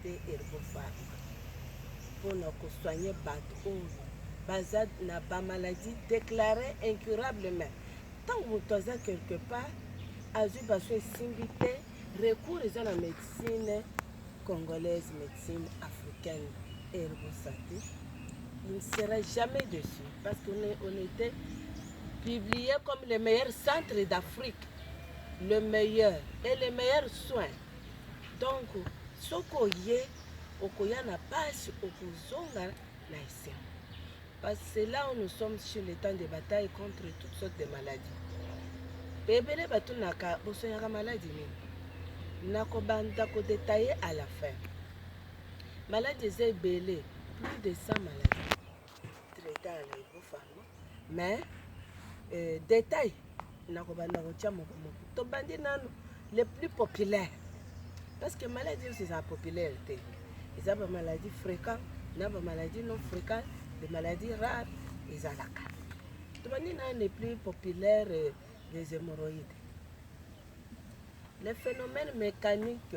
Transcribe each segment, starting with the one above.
te Herbopharma mpo na ko soigner bato oyo baza na ba maladies declarees incurables mais ntango moto aza quelque part azwi baso esimbi te recours eza na médecine congolaise médecine africaine Herbosate il ne sera jamais dessus parce qu'on on était publié comme le meilleur centre d'Afrique le meilleur et les meilleurs soins Donc soki oye okoya na pasi okozonga na esengo parce que c'est là où nous sommes sur le temps de bataille contre toutes sortes de maladies ebele batunaka bosonyaka maladi nini nakobanda kodetaille à la fin maladi eza ebele plus de 100 maladies mais euh, détail nakobanda kotya moko moko tobandi nano le plus populaire parce que maladie oyo eza populaire te eza bamaladie fréquent na bamaladie non fréquent de maladie rare ezalaka tobandi na le plus populaire euh, des hémorroïdes le phénomène mécanique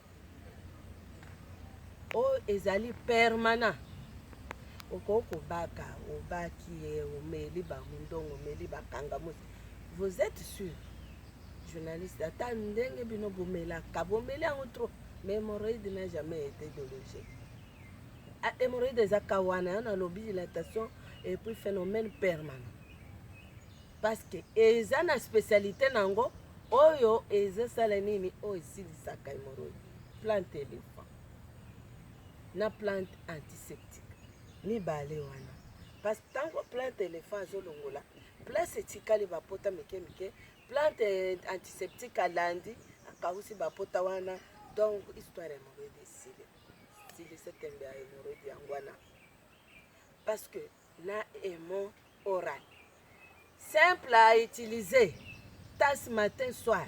oyo ezali permanent okoki kobaka obaki ye omeli bamundongo omeli bakangamusi vous êtes sûr journaliste ata ndenge bino bomelaka bomeli yango trop mais hémorroïde n'a jamais été dologé ah, hémorroïde eza kawana yo nalobi dilatation et puis phénomène permanent parce que eza na specialite na yango oyo ezosala nini oyo esilisaka hemorroïde plante elephant na plante antiseptique mibale wana parce que ntango plante elephant azolongola place etikali bapota mike mike plante antiseptique alandi akausi bapota wana donc histoire ya hemorroïde esili silisa tembe ya hemorroïde yango wana parce que na emo oral simple a utiliser tas matin soir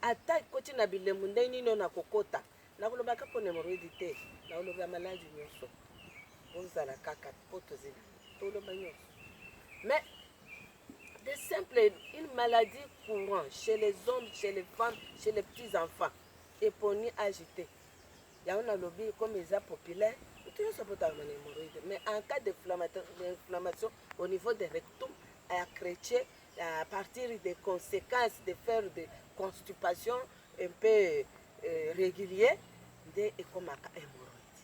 ata ekoti na bilembo ndenge nini oyo nakokota nakoloba kaka pona hemoroidi te nakoloba ya maladi nyonso bozala kaka mpo tozela toloba nyonso mais de simple une maladie courant chez les hommes chez les femmes chez les petits enfants eponi age te Yango nalobi comme eza populaire mutu nionso abotamaka na hemorroïde mais en cas d'inflammation au niveau de rectum à crecher à partir des conséquences de faire de constipation un peu euh, régulier nde ekomaka hemorroïde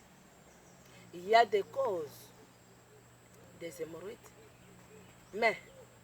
il y a des causes des hemorroïdes mais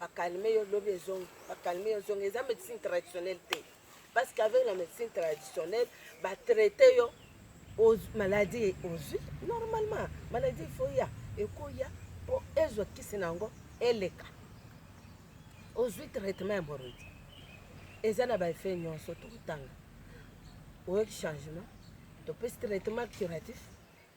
Ba calme yo lobi ezongi ba calme yo zongi eza medicine traditionnelle te parce qu'avec la médecine traditionnelle batraite yo maladie ozwi normalement maladie ifo ya ekoya mpo ezwa kisi na yango eleka ozwi traitement ya morodi eza na baeffet nyonso tokotanga oyoki changement topesi traitement curatif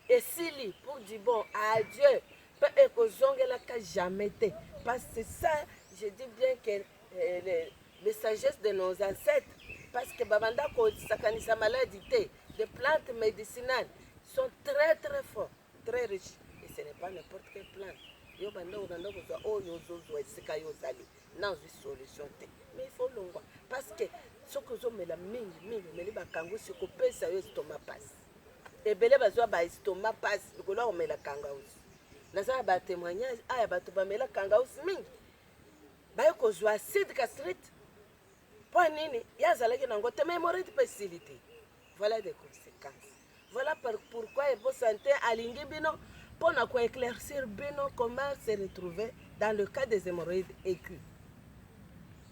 esili pour du bon adieu mpe ekozongelaka jamais te parce que ça je dis bien que euh, le, le sagesse de nos ancêtres parce que babanda kosakanisa maladi te des plantes médicinales sont très très forts très riches et ce n'est pas n'importe quelle plante yo banda obanda kozwa oyo ozozwa esika yo ozali na ozwi solution te mais ifo olongwa parce que soki ozomela mingi mingi omeli bakangusi kopesa yo estoma pasi ebele bazwa ba estomac pasi likolo ya komela kangausi naza na ba témoignage aya bato bamela kangausi mingi baye kozwa acide castrite mpo nini ye azalaki nango te memorite mpe esili te voilà des conséquences voilà pourquoi evo santé alingi bino mpo na koéclaircir bino comment se retrouver dans le cas des hémorroïdes aigus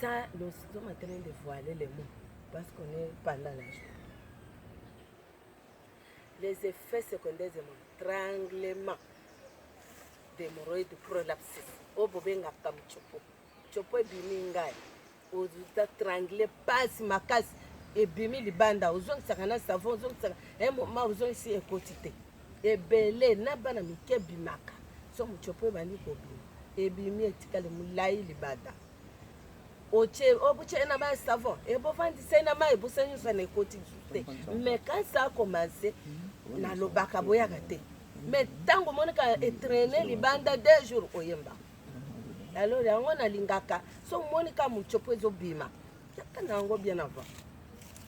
Ça, nous sommes en train de voiler les mots parce qu'on est pendant la journée. Les effets secondaires de mon tranglement d'hémorroïde prolapsis oyo bobengaka mchopo chopo ebimi ngai otatrangle pasi makasi ebimi libanda ozongisaka na savon ozongisaka un moment ozongisi ekoti te ebele na bana mike ebimaka soki motshopi ebandi kobima ebimi etikali molai libanda obuchena ba savon ebovandisa na mai bosa nyonso na ekoti lisusu te me kasi akomanse nalobaka boyaka te me ntango omonaka etraine libanda deux jours oyemba alors yango nalingaka so omonika motshopo ezobima Kaka na yango bien avant.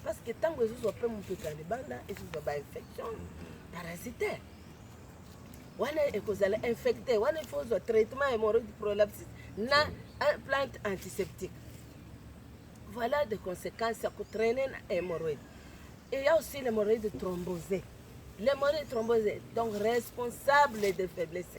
Parce que tango ezozwa pe moto ta libanda ezozwa ba infection parasitaire. Wana ekozala infecté, wana il faut ozwa traitement hémorroïde prolapse na plante antiseptique. Voilà des conséquences ya kotraîner na hémorroïde. Et ya aussi l'hémorroïde thrombosée. L'hémorroïde thrombosée donc responsable des faiblesses.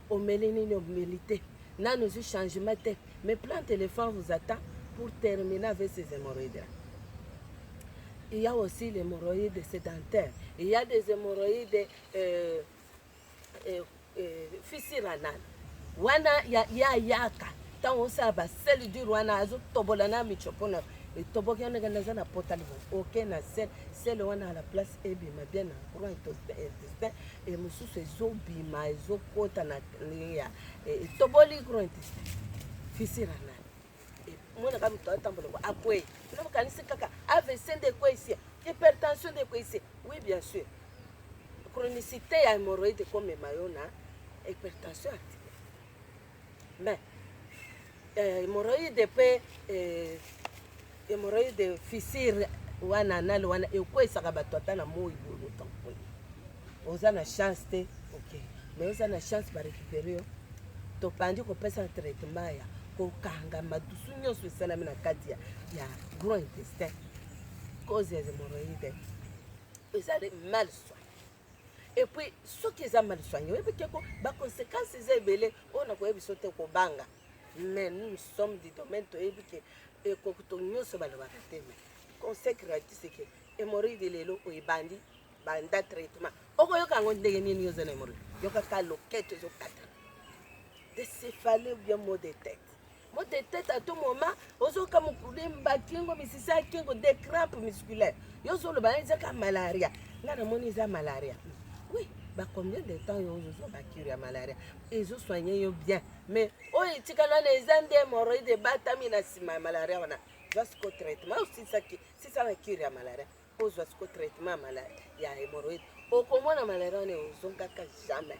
Omeli nini omeli te nanu ozwi changement te mais plan téléphone vous attend pour terminer avec ces hémorroïdes là il y a aussi les hémorroïdes sédentaires il y a des hémorroïdes euh, euh, euh, fissure anale wana ya, ya yaka ntango osala basele dur wana azotobola na michopo na etoboki wana ekenda eza na pota libo oke na sele sele wana à la place ebima bien na courant intestin e mosusu ezobima ezokota na ndenge ya e, etoboli grand fisira nani e, monaka moto atambola ngo akwei na makanisi kaka avc nde ekweisi hypertension nde ekweisi oui bien sûr chronicité ya hémorroïde ekomema yo na hypertension articulaire Mais euh, hemorroïde pe euh, hemorroïde fissure wana nalo wana ekweisaka bato ata na moi boye otan boye oza na chance te ok mais oza na chance barécupere yo tobandi kopesa na traitement ya kokanga madusu nyonso esalami na kati ya, ya gros intestin cause ya hemorroïde ezali mal soin et puis soki eza mal soigne oyebi te ko ba conséquences eza ebele oyo nakoyebi biso te kobanga mais nous sommes du domaine toyebi ke ekokuto nyonso balobaka te mais conseil gratuit c'est que hemorroïde lelo oyo ebandi banda traitement okoyoka yango ndenge nini oza na hemorroïde yokaka loketo ezokata decéphale ou bien mot de tête Mbote teta to moma ozoka mokule bakingo misisi ya kingo de crampe musculaire yo ozoloba ezaka malaria ngai namoni eza malaria oui ba combien de temps yo ozozwa bacure ya malaria ezosoigne yo bien mais oyo etikali wana eza nde hemoroïde ebatami na nsima ya malaria wana zwa siko traitement osisaki sisa na cure ya malaria ozwa siko traitement ya hemoroïde okomona malaria wana ozongaka jamais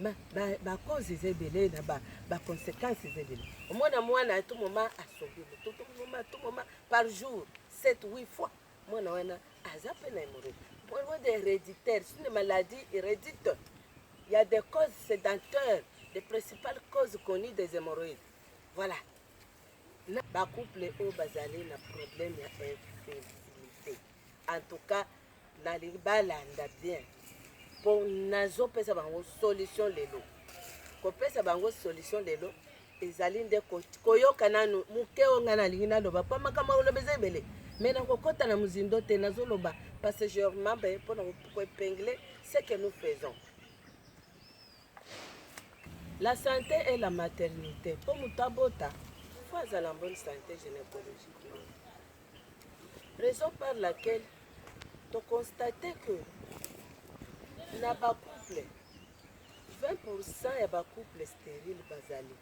Ma, ba, ba cause eza ebele na ba, ba consequences eza ebele omona mwana ya tout moment asombi moto tout moment tout moment par jour 7 8 fois mwana wana aza mpe na hémorroïde mpo de héréditaire c'est une maladie hérédite il y a des causes sédentaires les principales causes connues des hémorroïdes voilà na ba couple oyo bazali na problème ya infertilité en tout cas nalingi balanda bien mpo nazopesa bango solution lelo kopesa bango solution lelo ezali nde koyoka nanu moke oyo ngai nalingi naloba mpo makambo akoloba eza ebele mais nakokɔta na mozindo te nazoloba passagèrement mpe mpo na koepingle ce que nous faisons la santé et la maternité mpo moto abota fo azala bonne santé gynécologiquement Raison par laquelle to constate que na ba couple 20% ya ba couple sterile bazali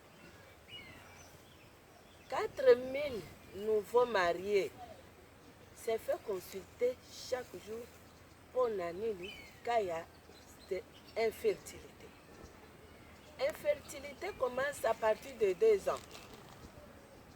4000 nouveaux mariés se fait consulter chaque jour mpo na nini ka ya infertilité infertilité commence à partir de deux ans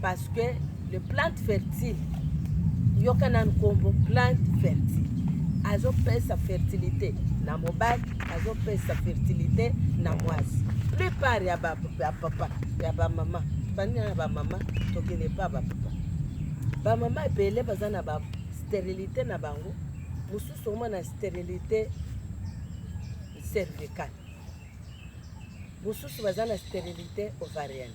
parce que le plante fertile yoka nanu nkombo plante fertile azopesa fertilité na mobali azopesa fertilité na mwasi plupart ya bapapa ya bamama bani na bamama tokende pa bapapa bamama ebele baza na ba sterilité na bango mosusu omona sterilité cervicale mosusu baza na sterilité ovarienne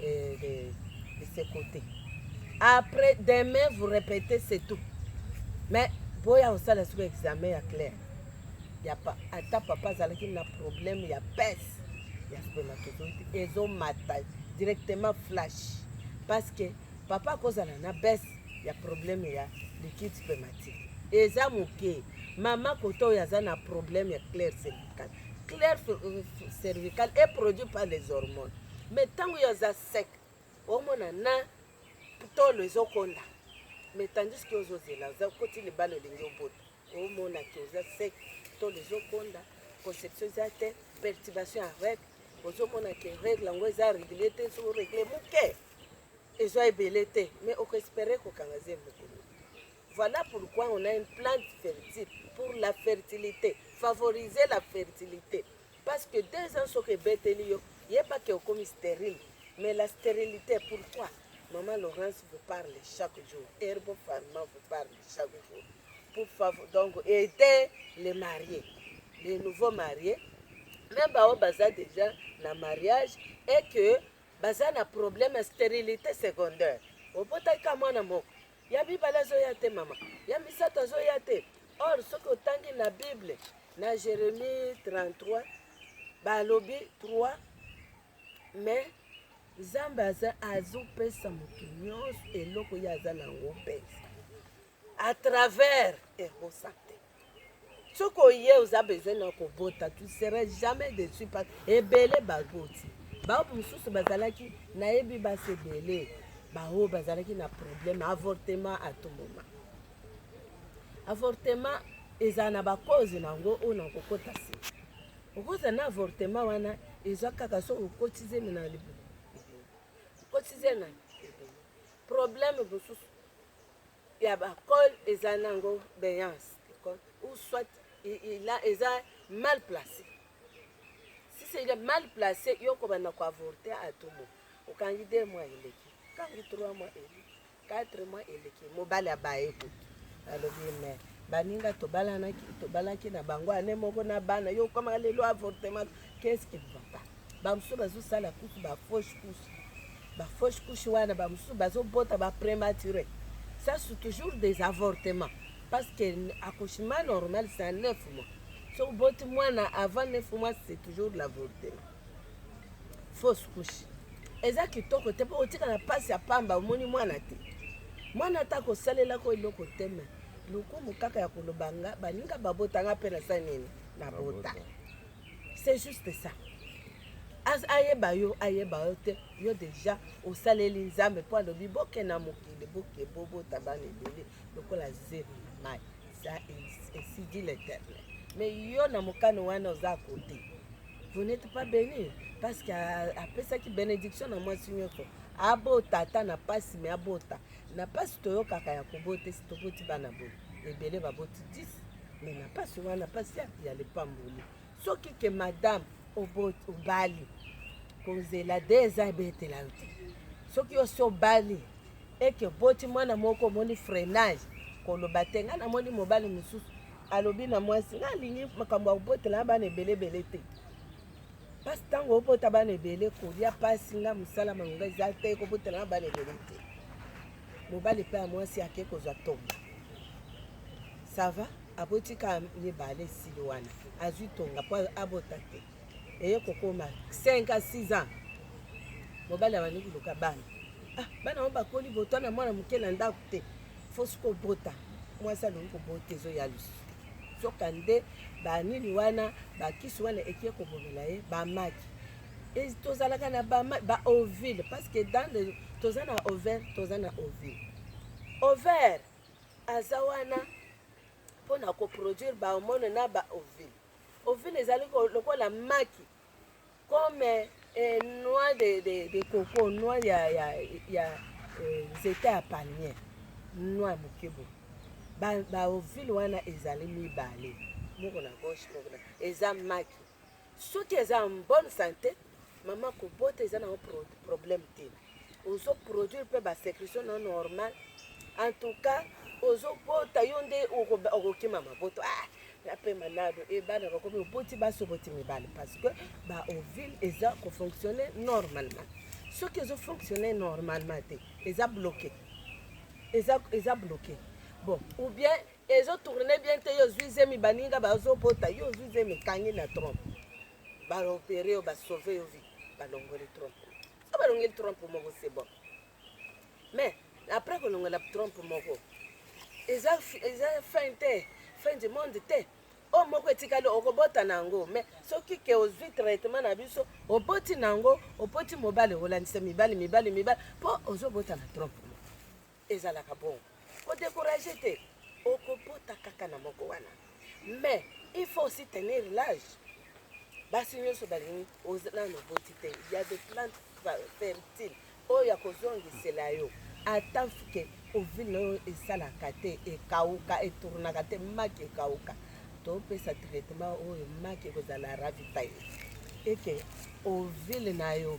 et de, de ce côté après demain vous répétez c'est tout mais boya kosala soki examen ya claire ya pa, ata papa azalaki na problème ya pese ya spermatozoïde ezomata directement flash parce que papa akozala na bese ya problème ya liquide spermatique eza moke mama kota oyo aza na problème ya claire cervicale claire cervicale est produit par les hormones me ntango yo aza sec omona na tolo ezokonda me tandis ke ozozela oza koti libala olingi obota omona ke oza sec tolo ezokonda conception eza te perturbation ya règle ozomona ke règle yango eza réglé te soki oréglé moke ezwa ebele te mais okoespere kokanga zemi mokolo voilà pourquoi on a une plante fertile pour la fertilité favoriser la fertilité Parce que deux ans soki ebeteli yo, yeba que okomi sterile. Mais la sterilite pourquoi? Maman Laurence vous parle chaque jour. Herbo Pharma vous parle chaque jour. Pour favor, donc aider les mariés, les nouveaux mariés, même baoyo baza déjà na mariage et que baza na problème ya sterilité secondaire. Obotaki ka mwana moko, Ya mibale azoya te mama, ya misato azoya te. Or soki otangi na Bible na Jeremie 33 balobi 3 mais Nzambe aza azopesa moto nyonso eloko ye aza na yango mpenza à travers ebosaka soki oye oza besoin na kobota tu seras jamais dessus parce ebele baboti bao mosusu bazalaki nayebi basi ebele baoyo bazalaki na problème avortement à tout moment avortement ezala na bacause na yango oyo na kokota se okoza na avortement wana eza kaka so okoti zemi na libumu okoti zemi na problème mosusu ya ba col eza nango beance ou soit il a eza mal placé si c'est il est mal placé yo kobanda ko avorter à tout moment okangi deux mois eleki okangi trois mois eleki quatre mois eleki mobali abaye kutu alobi me baninga tobalanaki tobalaki na bango ane moko na bana yo okoma lelo avortement qu'est ce qui ne va pas Bamosusu bazosala kutu ba fausse couche, ba fausse couche wana bamosusu bazobota ba premature, ça c'est toujours des avortements parce que accouchement normal c'est à 9 mois. So oboti mwana avant 9 mois c'est toujours l'avortement, fausse couche. Eza kitoko te mpo otikala mpasi ya pamba, omoni mwana te, mwana ata kosalelako eloko te me lokumu kaka ya koloba nga baninga babota nga mpe na sa nini nabota. c'est juste ça ayeba yo ayeba yo te yo deja osaleli nzambe mpo alobi boke na mokili boke bobota bana ebele lokola zero na mai ça esidi l'éternel mais yo na mokano wana oza kote vous n'êtes pas béni parce que apesaki bénédiction na mwasi nyonso abota ata na mpasi me abota na pasi toyokaka ya kobote si toboti bana boye ebele baboti 10 me na pasi wana pasi ya lipamboli soki ke madame obali kozela de eza ebetela yo te soki osi obali eke oboti mwana moko omoni freinage koloba te ngai namoni mobali mosusu alobi na mwasi ngai alingi makambo ya kobotela bana ebele ebele te mpasi ntango obota bana ebele kolia mpasi nga mosala malonga eza te kobotela na bana ebele te mobali mpe ya mwasi ake kozwa tonga sava abotika mibale esili wana azwi tonga mpo abota te eye kokoma 5 a 6 ans mobali abandi koluka bana ah, bana yango bakoli botwana mwana moke na ndako te fosi kobota mwasi alongi kobota ezoya lisusu Nzoka nde ba nini wana ba kisi wana ekie kobomela ye ba maki tozalaka na ba, ba ovile parce que dans le toza na ovaire toza na ovile ovaire aza wana mpo na koproduire ba hormone na ba ovile ovile ezali lokola maki Comme eh, noix de, de, de coco, noix ya, ya, ya eh, nzete ya palmier, noix ya moke boye. Ba, ba ovule wana ezali mibale, moko na gauche, moko na eza maki. Soki eza en bonne santé, mama kobota eza na problème te. ozo produire mpe ba secretion no normal en tout cas ozobota yo nde okokima maboto ah, pe malado e bana bakomi oboti basi oboti mibale parce que ba ovile eza kofonctionne normalement soki ezofonctionne normalement te eza bloqué eza, eza bloqué bon ou bien ezotourne bien te yo ozwi zemi baninga bazobota yo ozwi zemi ekangi na trompe baopere yo basauve yo vi balongoli trompe abalongeli trump moko c'est bon mais après kolongela trump moko eza fin te fin du monde te oyo oh, moko etikali okobota na yango mais soki ke ozwi traitement na biso oboti na yango opoti mobali olandisa mibali mibali mibali mpo ozobota na trump Ezalaka bongo. Ko decourager te. Oko bota kaka na moko wana. Mais il faut aussi tenir l'age. Basi nyoso balingi ozana no boti te. Il y a des plantes fertiles oyo akozongisela yo ata mfuke ovile na yo esalaka te ekauka etournaka te maki ekauka topesa traitement oyo maki ekozala ravitaille eke ovile na yo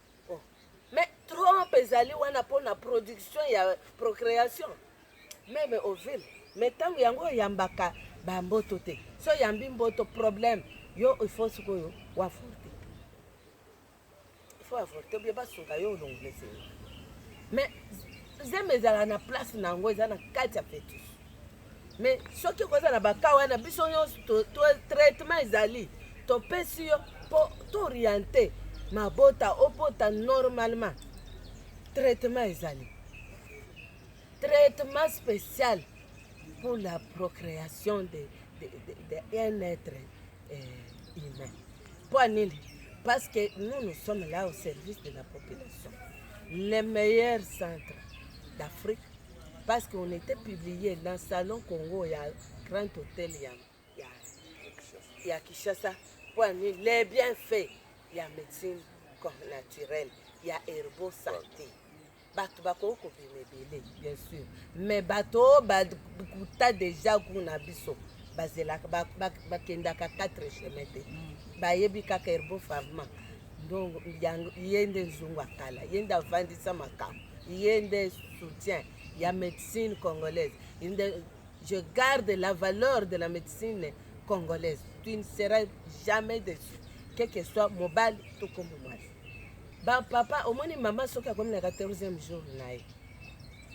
oh. mais trompe ezali wana mpo na production ya procréation meme ovile mais ntango yango oyambaka bamboto te so oyambi mboto problème yo ifo sikoyo waforte ifo waforte obie basunga yo olongolesee mais zemi ezala na place na yango eza na kati ya fetus mais soki okoza na baka wana biso nyonso traitement ezali topesi yo mpo tooriente mabota obota normalement traitement ezali traitement spécial pour la procréation de, de, de, de un être euh, humain mpo nini parce que nous nous sommes là au service de la population le meilleur centre d'afrique parce qu'on était publié dans salon Congo ya grand hôtel ya ya ya Kinshasa pour amener les bienfaits ya médecine comme naturelle ya herbo santé bato bakoki kobima ebele bien sûr mais bato oyo bakuta déjà gout na biso bazelaka bakendaka 4 chemin te bayebi kaka herbo farma ndongo yango ye nde nzungu akala ye nde avandisa makambo ye nde soutien ya médecine congolaise nde je garde la valeur de la médecine congolaise tu ne seras jamais déçu quel que soit mobali to kombo mwasi bapapa omoni mama soki akomi na 14e jour na ye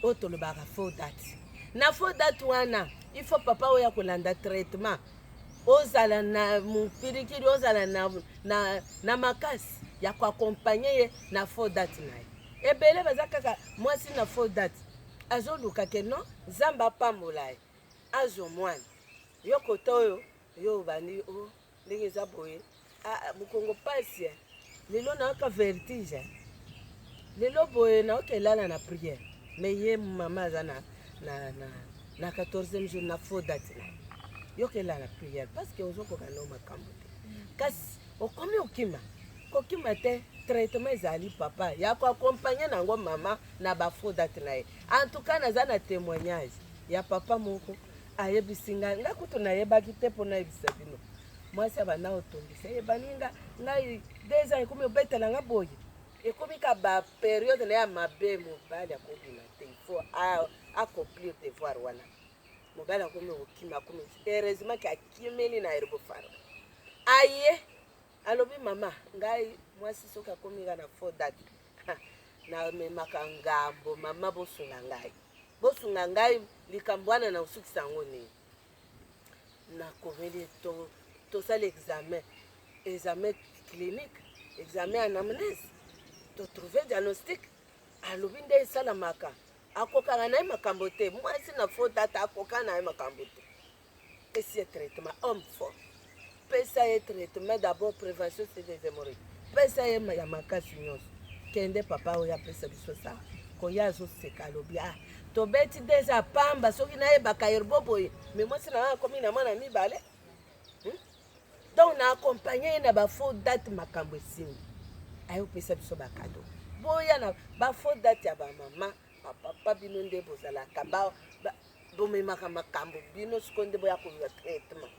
oyo tolobaka faux date na faux date wana il faut papa oyo akolanda traitement ozala na mopirikiri ozala na, na, na makasi ya koakompagne ye na faux date na ye ebele baza kaka mwasi na faux date azoluka ke non nzambe apambola ye azwa mwana yo kota oyo yo obandi o oh, ndenge eza boye Ah, ah mukongo pasi eh. lelo nayoka vertige eh. lelo boye nayoka elala na prière me ye mama aza na, na, na, na 14e jour na faux date na yoka elala prière parce que ozokoka nao makambo te kasi okomi okima kokima te traitement ezali papa ya koakompagne na yango mama na bafaux date na ye en tout cas naza na témoignage ya papa moko ayebisi nga nga kutu nayebaki te mpo nayebisa bino mwasi ya bana otongisa eyebani nga ngai deux ans ekomi obetela nga boye ekomi ka ba periode na ya mabe mobali akobima te fo accomplir devoir wana mobali akomi kokima akomi heureusement ke akimeli na erbofaro aye alobi mama ngai mwasi soki akomi nga na fo date namemaka ngambo mama bosunga ngai Bosunga ngai likambo wana na kosukisa yango nini? Nakomeli to tosala examen examen clinique examen ya anamnese totrouve diagnostic alobi nde esalamaka akokaka na ye makambo te mwasi na fo tata akokana na ye makambo te Pesi ye traitement homme fort. Pesa ye traitement d'abord prévention c'est des hémorroïdes. Pesa ye ya makasi nyonso. Kende papa oyo apesa biso sa. Koya azo seka alobi ah tobeti deja pamba soki nayebaka yerbo boye me mwasi na ngai akomi na mwana mibale hmm? donc na accompagne ye na bafaux date makambo esimbi ayopesa biso bakado boya na bafaux date ya bamama bapapa bino nde bozalaka bomemaka makambo bino sikoyo nde boya kolula traitement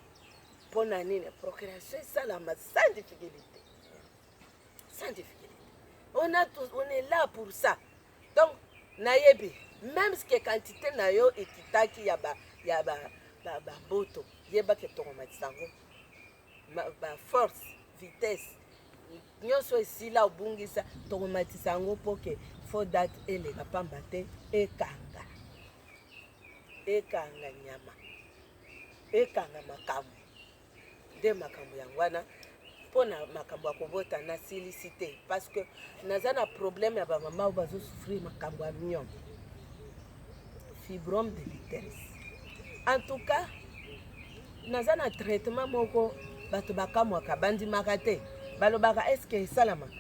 mpo na nini procuration esalama sans difficulté sans difficulté on, a tout, on est là pour ça donc nayebi même ce que quantité na yo ekitaki ya ba, ya ba, ba, ba mboto yebaki etongomatisa yango ba force vitesse nyonso esila obungisa tokomatisa yango mpo ke fo date eleka pamba te ekanga ekanga nyama ekanga makambo nde makambo yango wana mpo na makambo ya kobota nasilisi te parce que naza na problème ya bamama oyo bazosouffrir makambo ya miongo fibrome de l'utérus en tout cas naza na traitement moko bato bakamwaka bandimaka te balobaka eske esalamaka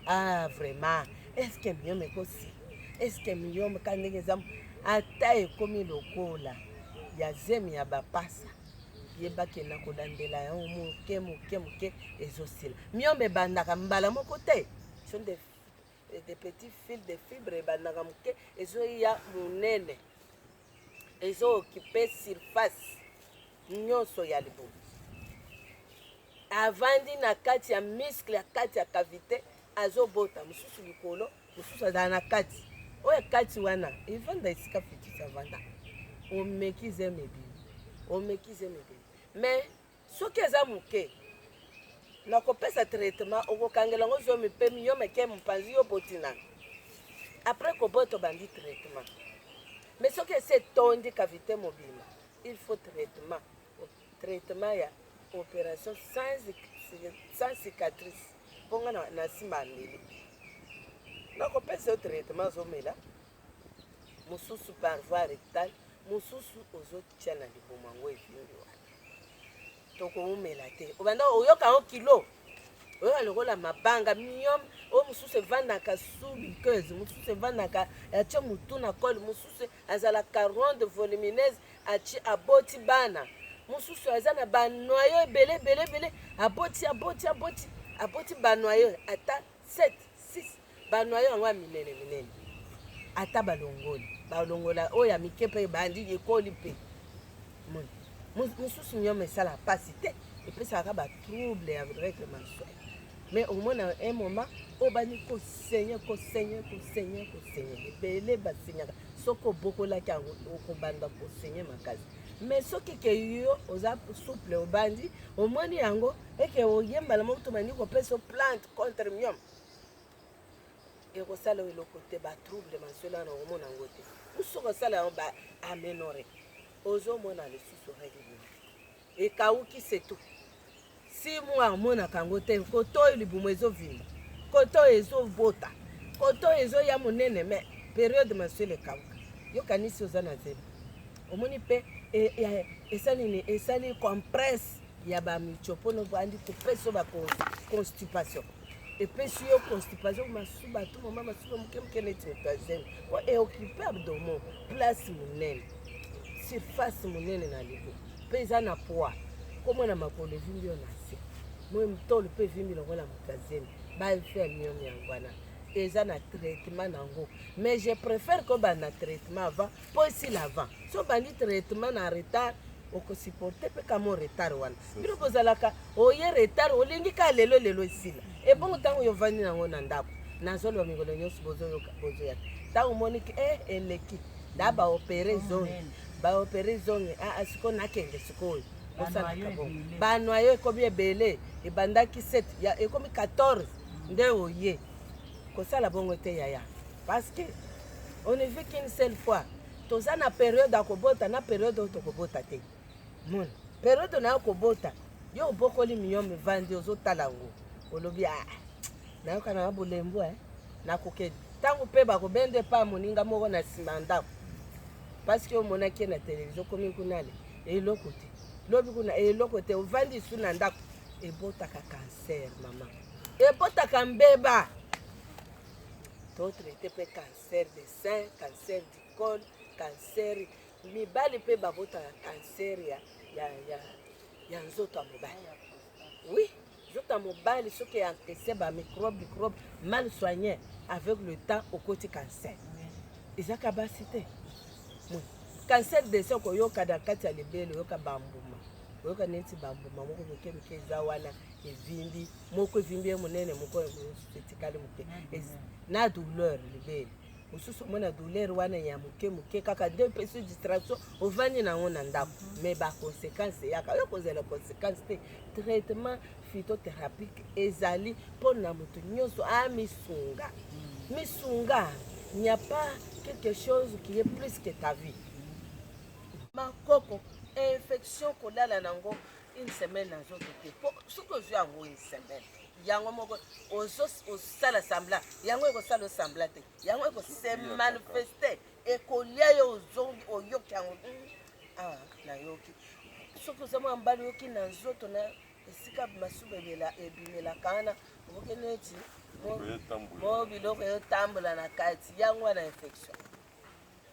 ah vraiment eske miyome ekosi eske miyome ka ndenge eza ata ekomi lokola ya zemi ya bapasa yebake na kolandela yango moke moke moke ezosila miyombe ebandaka mbala moko te et des petits fils de fibre ebandaka moke ezoya monene ezookipe surface nyonso ya libumu avandi na kati ya miskle ya kati ya kavite azobota mosusu likolo mosusu azala na kati oyo ya kati wana evanda esika fitisi avanda omeki zeme ebimi omeki zeme ebimi mais Soki eza muke na kopesa traitement okokangela ngo zomi pe yo meke mopanzi yo boti nani après kobota obandi traitement mais soki esi etondi cavité mobima il faut traitement traitement ya opération sans, sans cicatrice mpo nga na nsima ya mbeli nakopesa yo traitement azomela mosusu par voie rectale mosusu ozotia na libumu yango evimbi wana tokoumela te obanda oyoka yango kilo oyoka lokola mabanga miom oyo mosusu evandaka subikeuse mosusu evandaka atie motu na kole mosusu azalaka ronde volumineuse atie aboti bana mosusu aza na banoyo ebele ebele ebele aboti aboti aboti aboti banoyo ata 7 6 ba noyau yango ya minene minene ata balongoli balongola oyo ya mike mpe ebandi ekoli mpe mosusu nyama esala mpasi te epesaka ba trouble ya règle mensuel mais omona un moment obandi kosenye kosenye kosenye kosenye ebele basenyaka soki obokolaki yango okobanda kosenye makasi mais soki keyo oza souple obandi omoni yango et que oye mbala moko to bandi kopesa yo plante contre mium ekosala yo eloko te batrouble masolo wana omona yango te mosusu okosala yango ba amenore ozomona lisusu regle ekauki setu si mwa amonaka yango te koto oyo libumu ezovimba koto oyo ezobota koto oyo ezoya monene me periode mensuele ekauka yokanisi oza na zemi omoni mpe e, e, esali nini esali compresse ya ba micho mpo na obandi kopesa yo ba constipation epesi yo constipation masuba tu mama masuba moke moke neti moto azemi po eokipe abdomo place monene surface monene na libo mpe eza na poids komona makolo evimbi yo na se moi motolo mpe evimbi lokola moto azemi bainfirme yo yango wana eza na traitement nango mais je préfère kobanda traitement avant mpo esila avant so obandi traitement na retard oko supporter pe kamo retard wana bino bozalaka oye retard olingi ka lelo lelo esila ebongo ntango yo vandi nango na ndako nazoloba mikolo nyonso bozoyoka bozoya ntango omoniki e eh, eleki nda baopere zongi baopere zongi aa ah, ah, siko nakende sikoyo bosalaka bongo banoyo ekomi ebele ebandaki 7 ekomi 14 nde oye kosala bongo te yaya parce que on ne vit qu'une seule fois toza na periode ya kobota na periode oyo tokobota te mona periode na yo kobota yo obokoli miyo mivandi ozotala yango olobi a ah, nayoka na bolembu e eh. nakoke ntango mpe bakobende pa moninga moko na nsima ya ndako parceke omonaki ye na televizio okomi kunale eloko te lobi kuna eloko te ovandi su na ndako ebotaka kanser mama ebotaka mbeba totraite mpe kanser cancer de sein cancer du col cancer mibali mpe babotaka cancer ya, ya, ya, ya nzoto ya mobali oui nzoto ya mobali soki eantese bamicrobe microbe mal soigne avec le temps okoti cancer ezaka basi te cancer de sein okoyoka na kati ya libele oyoka bambuma oyoka neti bambuma moko moke moke eza wana evimbi moko evimbi ye monene moko etikali moke na douleur libele mosusu omona douleur wana ya moke moke kaka nde epesi distraction ovandi nango na ndako mhm. mais baconséquence eyaka yo kozela conséquence te traitement phytotherapique ezali mpo na moto nyonso amisunga mhm. misunga n'y a pas quelque chose qui est plus que ta vie mhm. makoko infection kolala nango une semaine na nzoto te po soki ozwi yango une semaine yango moko osala sembla yango ekosala osembla te yango ekose manifeste ekolia yo ozongi oyoki yango hmm, awa ah, nayoki soki oza mwa mbala oyoki na nzoto na esika masuba ebimelaka wana okoki neti mo biloko eyotambola na kati yango wana infection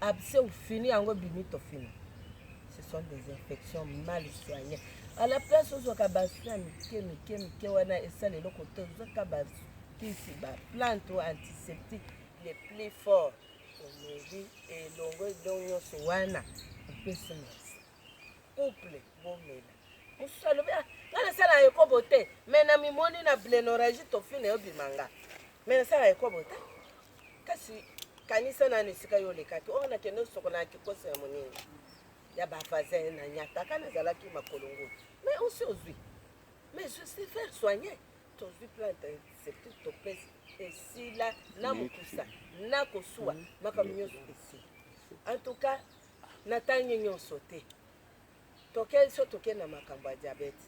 abse ou fini yango bimi tofina ce sont des infections mal soignées à la place ozwaka basoin mike mike mike wana esala eloko te ozwaka bakisi baplante o antiseptique le plus fort omeli elongo elongo nyonso wana opesi merci couple bomela mosusu alobi ah, nga nasala ekobo te me na mimoni na blenoragi tofine obima nga me nasala ekobo te kasi kanisa nanu esika yo olekaki oyo oh, nakende osokola na kikoso ya moninga ya bavasin na nyataka nazalaki makolo ngulu me osi ozwi me je sais faire soigne tozwi plante septique topesi esila na mokusa na kosuwa makambo nyonso esila en tout cas Natangi nyonso te. Toke so toke na makambo ya diabete.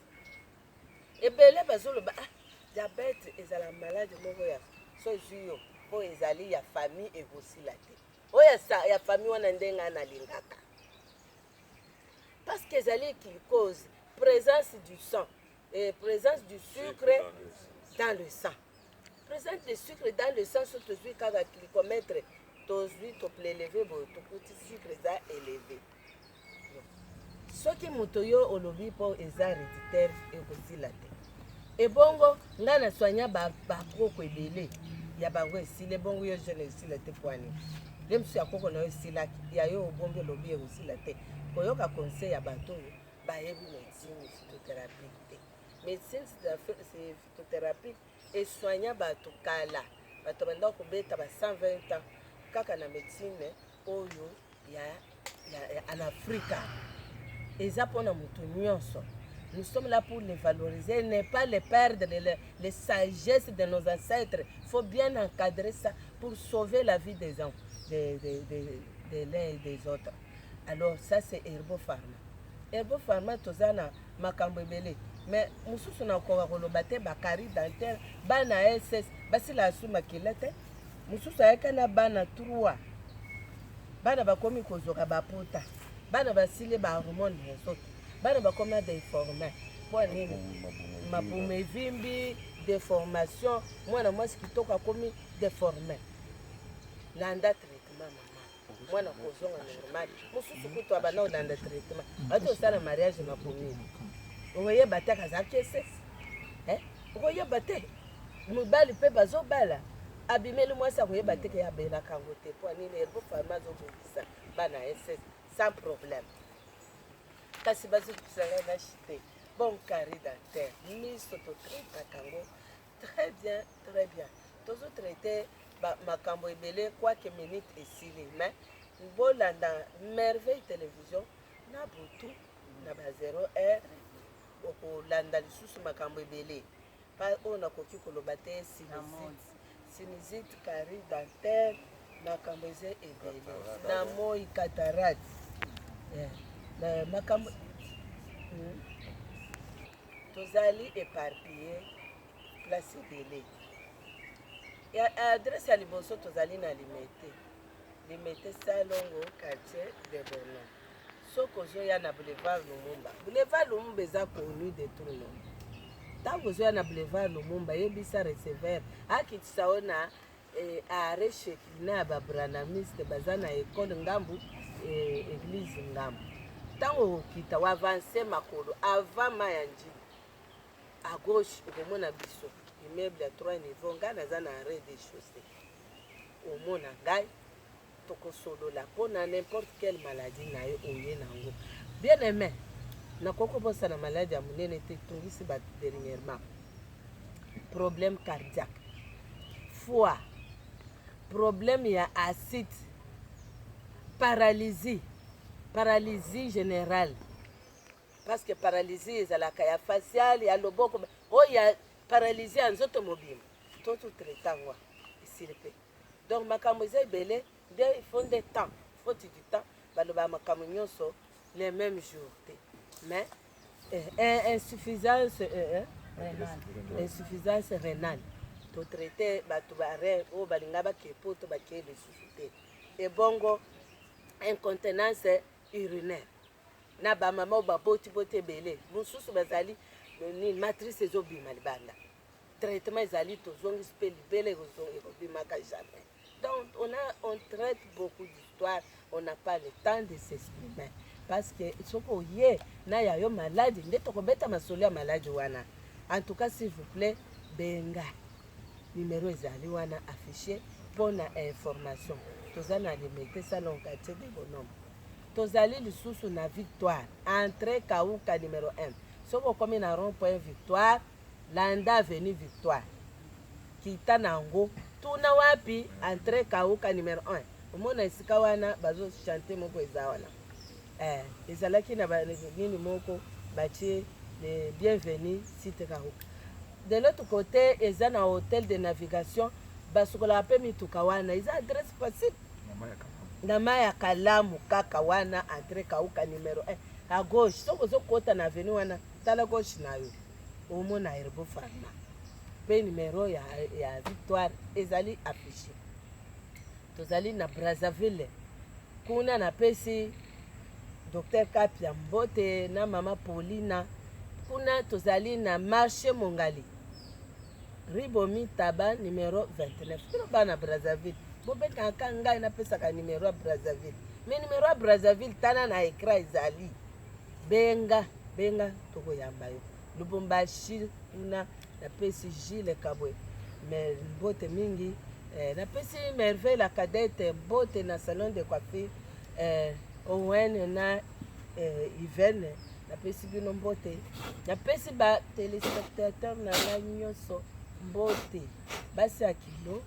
Ebele bazoloba ah diabete ezala malade moko ya so ezwi yo mpo ezali ya famille ekosila te oyo ya famille wana nde ngai nalingaka parce que ezali qu'il cause présence du sang et présence du sucre dans le sang Presente de sucre dans le sens où tozwi kaka glycomètre tozwi topleleve boye tokuti sucre eza eleve soki moto yo olobi mpo eza reditaire ekosila te ebongo ngai na soigna bakoko ba ebele ya bango esila ebongo yo jeune esila te pwani nde mosusu ya koko na yo esilaki ya yo obongi olobi ekosila te koyoka conseil ya bato oyo bayebi medecine phytothérapie te médecine c'est Chimiotherapies e soigna batu kala, batu babandaka kobeta ba 120 ans kaka na medecine oyo ya en Africa. Eza pona mutu nionso. Nous sommes là pour les valoriser, ne pas les perdre, les, les sagesses de nos ancêtres. Il faut bien encadrer ça pour sauver la vie des gens, des, des, des, des l'un et des autres. alors ça c'est herbo pharma herbo pharma toza na makambo ebele mais mosusu nakoka koloba te bakari dentaire bana ss basila asu makila te mosusu ayaka na bana 3 bana bakomi kozoka bapota bana basili bahormone na nzoto bana bakomi na deforme mpo nini mabumu evimbi deformation mwana mwasi kitoko akomi deforme landa traitement mama mwana kozonga normal mosusu kutu abanda kolanda traitement ati osala mariage na commune okoyeba te akaza kese eh? okoyeba te mibali mpe bazobala abimeli mwasi akoyeba te ke abelaka yango te mpo nini elbo fami azobongisa bana ese sans problème kasi bazokisanga na chite bon carré dentaire miso totritaka yango Très bien très bien tozo traite ba makambo ebele quoique minute esili mais bolanda merveille television na butu na ba 0 heure bokolanda lisusu makambo ebele pa oyo nakoki koloba te sinizite sinizite carie dentaire makambo eza ebele na moi cataracte eh, na makambo hmm. tozali eparpille place ebele ya adresse ya liboso tozali na limete limete salongo quartier de bonon soki ozoya na boulevard lumumba boulevard lumumba eza connu de tout le monde ntango ozoya na boulevard lumumba yebisa receveur akitisa yo na Eh are Shekinah ba branamiste baza na ecole ngambu eh, eglise ngambu ntango okokita wa avance makolo avant ma ya njili à gauche okomona biso immeuble ya 3 niveau ngai naza na rez de chaussée omona ngai Toko solola po na n'importe quelle maladie na yo oye na ngo. Bien aime, nakoki kobosana malade ya munene te etungisi batu dernierement. Problème cardiaque, foie, problème ya acide, paralysie, paralysie generale parce que paralysie ezalaka ya faciale, ya loboko, oyo ya paralysie ya nzoto mobimba. Tozo traiter ngo esili pe. Donc makambo eza ebele nde il faut nde temps faute du temps balobaka makambo nyonso le même jour te mais eh, eh, insuffisance eh, eh, renale insuffisance renale totraite bato barein oyo balinga bakei mpo to bakei lisusu te ebongo incontenance urinaire na bamama oyo baboti boti ebele mosusu bazali nini matrice ezobima libanda traitement ezali tozongisi mpe libele ekozonga ekobimaka jamais donc on a on traite beaucoup d'histoire on n'a pas le temps de s'exprimer parce que soki oye na ya yo maladi nde tokobeta masolo ya maladi wana en tout cas s'il vous plaît benga numero ezali wana affiche mpo na information toza na limete salon quartier de bonhomme tozali lisusu na victoire entre kauka numero 1 soki okomi na rond point victoire Landa avenue victoire kita na ngo tuna wapi entre kauka numero un omona esika wana bazo chante moko eza wana eh, ezalaki na nini moko batie le bienvenu site kauka de l'autre côté eza na hotel de navigation basukolaka mpe mituka wana eza adresse facile na mai ya kalamu kaka wana entre kauka numero 1 à gauche soki ozokota na avenue wana tala gauche na yo omona Herbo Pharma mpe numero ya, ya victoire ezali affiche. Tozali na Brazzaville, kuna napesi Dr Kapia mbote na mama Paulina. Kuna tozali na marche Mongali, ribomi taba numero 29. Bino bana Brazzaville bobetaka ngai napesaka numero ya Brazzaville, me numero ya Brazzaville tala na ekra ezali benga benga tokoyamba yo lubumbashi kuna napesi gile kabwe mais mbote mingi eh, napesi merveille la cadette mbote na salon de coiffure eh, owen na eh, ivene napesi bino mbote napesi ba telespectateur na ngai nyonso mbote basi ya kilo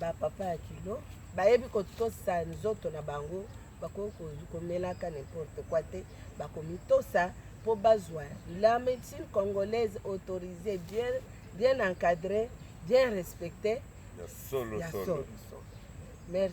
bapapa ya kilo bayebi kotosa nzoto na bango bakoki komelaka n'importe quoi te bakomitosa mpo bazwa la médecine congolaise autorisée bien, bien encadrée bien respectée ya solo, ya solo. Merci.